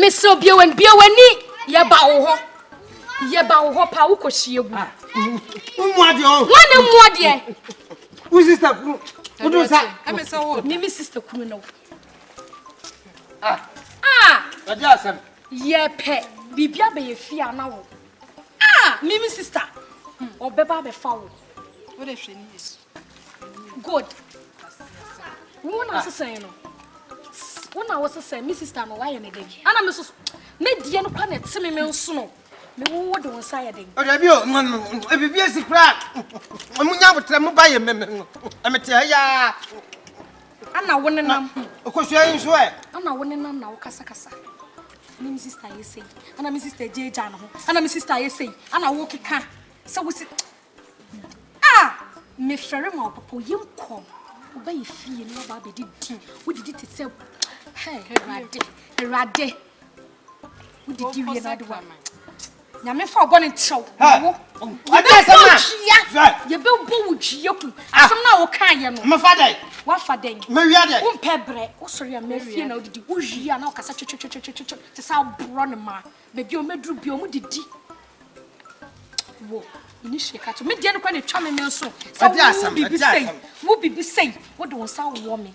mesrɛ wo bia w'ani bia w'ani yɛba wo hɔ yɛba wo hɔ paa wokɔhyia gu ah. wommua deɛ ɔ wane mmua deɛ wo sister kunu wodom sa meme sister kunu no Ah! Ah! Wagye asɛm. Yɛpɛ biribi abɛyɛ fie ana wo. Ah! Mimi sister. Ɔbɛba hmm, abɛfa wo. Wo de hwɛ ne yɛ. Good. Wo na sesɛn no. Wo na wo sesɛn me sister no wayɛ ne dɛ. Ana me so me deɛ no kwa na ɛte me me nso no. Me wo wo de wo nsa yɛ dɛ. Ɔdɛ bi o, ebibi esi kura. Ɔmo nya abotrɛ mo ba yɛ mmɛmɛ no. Ɛmɛ te ɛyaa. Ana wo nenam. Okosua yi nso ɛ. Ana wo nenam na wo kasa kasa. Ana me sister ayɛ sei. Ana me sister gye gya no ho. Ana me sister ayɛ sei. Ana wo keka. Sɛ wo si. Ah! Me fɛre ma wo papa oye nkɔ. Wo ba yi fie no ba ba di di. Wo di di te sɛ. Hey, erade. Erade. wodidi wie na ade wa nyame fa ɔbɔ ne nkyɛw wo yɛbɛbɔ wo dua yɛbɛbɔ wo dua ku asɛm no a wokaa yɛ no mefa dɛn woafa dɛn mewia dɛn wompɛ berɛ wosɔre a mafie na wodidi wowie a na wokasa twetwetwetwetwetwe te sɛ aborɔ ne ma baabi a ɔmɛduru bia ɔmo didi wo ini hye ka to me deɛ no kora na ɛtwa me me nso sɛ wo biribi sɛi wo biribi sɛi wode wo nsa wowɔ me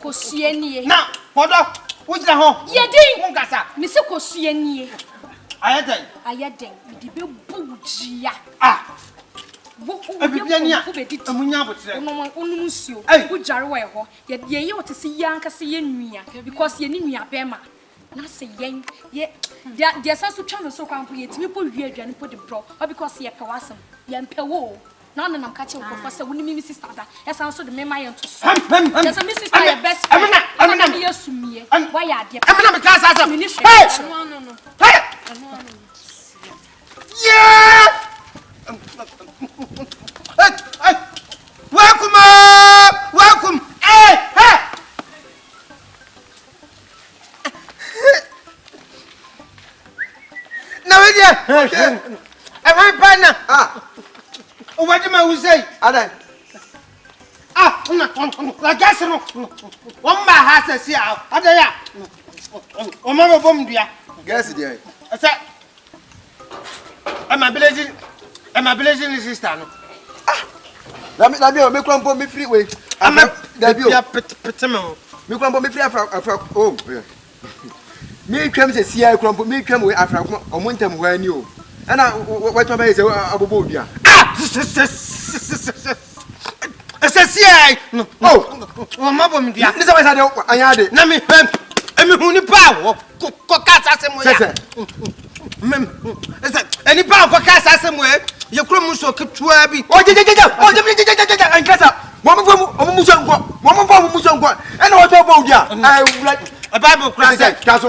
Kosua nie. Na kɔdɔ, wogyina hɔ. Yɛ din. Wonkasa. Mese kosua nie. Ayɛ dɛn? Ayɛ dɛn? Mede bɛbu wo dua. Ah! Wo, wo, wo yɛ kɔmfo bɛdidi. Ɛmu nya aboterɛ. Wonom, wonom nsuo. Ei! Wodware wɔ ɛhɔ. Yɛ, yɛyɛ wo te sɛ yɛn ankasa yɛn nua. Because yɛne nuabɛrima. Na se yɛn yɛ deɛ deɛ ɛsan so twa no so koraa mpo yɛtumi kɔ wie aduane mpo de brɛ wo because yɛpɛ w'asɛm yɛmpɛ wo o na ɔno nam ka kyerɛ nkurɔfoɔ sɛ wo ne me me sister da ɛsan so de me ma yɛ ntosoɔ kyerɛ sɛ me sister yɛ best friend ɛna na meyɛ sumiiɛ woayɛ adeɛ pa ɛmena me ka saa asɛm mene hwɛ ɛno ano no ɛno ano no yeah na wo deɛ ɛhwan pa na wobɛde ma wo sɛi adɛn lagase no wɔmma ha sɛ si a adɛn a wɔma bɛbɔ m dua gɛse deɛ sɛ ẹ ma bilezi ẹ ma bilezi ni sista no. ah dabi dabi o mi kura mpo mi firi wei. ama dabi o ebi apete pete mi o. mi kura mpo mi firi afra afra o oh, eh. mi twɛm sɛ sia kura mpo mi twɛm wei afra kuma ɔmo ntɛm hɔ ani o ɛna wɔtɔn bɛyɛ sɛ abobɔ odua. ah ɛsɛ si ɛ no wɔn ma bɔ mi dua. nisɛ wɛsɛ de an y'a de. na mi ɛ mi hu nipa a wɔ kɔ kaa sa se mo ya. sɛsɛ. mɛ ɛsɛ nipa a kɔ kaa sa se mo ɛ yɛ kuro mu so ketewa bi. o jɛ jɛ jɛ jɛ o jɛ mi jɛ jɛ jɛ jɛ nkɛ sa wɔn mi fɔ wɔn mu sɔn kɔ wɔn mu fɔ wɔn mu sɔn kɔ ɛna wɔn tɔ bɔ o dua. ɛ wula. ɛ baabu kura sɛ. sɛsɛ taso.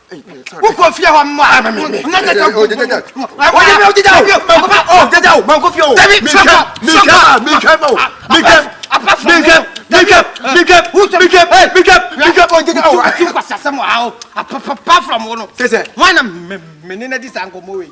wokɔ fie hɔ mmoa apapapa from wo no sɛ sɛ wana mene no adi saa nkɔmmɔ wei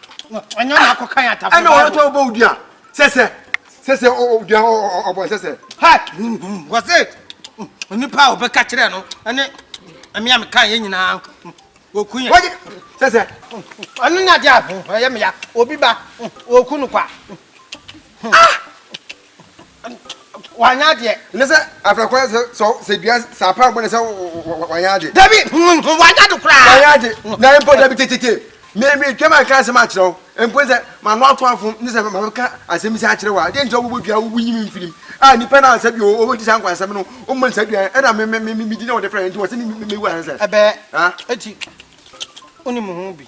ɔnyɛ ɔna akɔ kan atafo ɛna ɔno tɔ bɔ odua sɛsɛ sɛsɛ odua ɔbɔ sɛsɛ ha wɔse onipa a ɔbɛka kyerɛ no ɛne ɛmea me kan yɛ nyinaa wɔku yɛ wɔgye sɛsɛ ɔno ne adeɛ a ɛyɛ meya obi ba wɔku no kwa ah wanyɛ adeɛ. Ɛnɛ sɛ afra kwan sɛ sɛ sɛ dua sɛ apa ɔbɔ ne sɛ wanyɛ ade. Dabi wanyɛ ade koraa. Wanyɛ ade na mpo dabi tetete mɛmɛ twam aka asɛm akyerɛ wo mpo sɛ mano ato afom ne sɛ mabɛka asɛm sɛ akyerɛ wo a deɛ nkyerɛ wobɔ dua wobu nyim mfirim a nipa no a sɛ bi ɔdi saa nkwa asɛm no ɔmmɔ ne saa dua ɛna medi na wɔde frɛ nti wɔ sɛ mɛwu ansa ɛbɛɛ ɛti wonim ho bi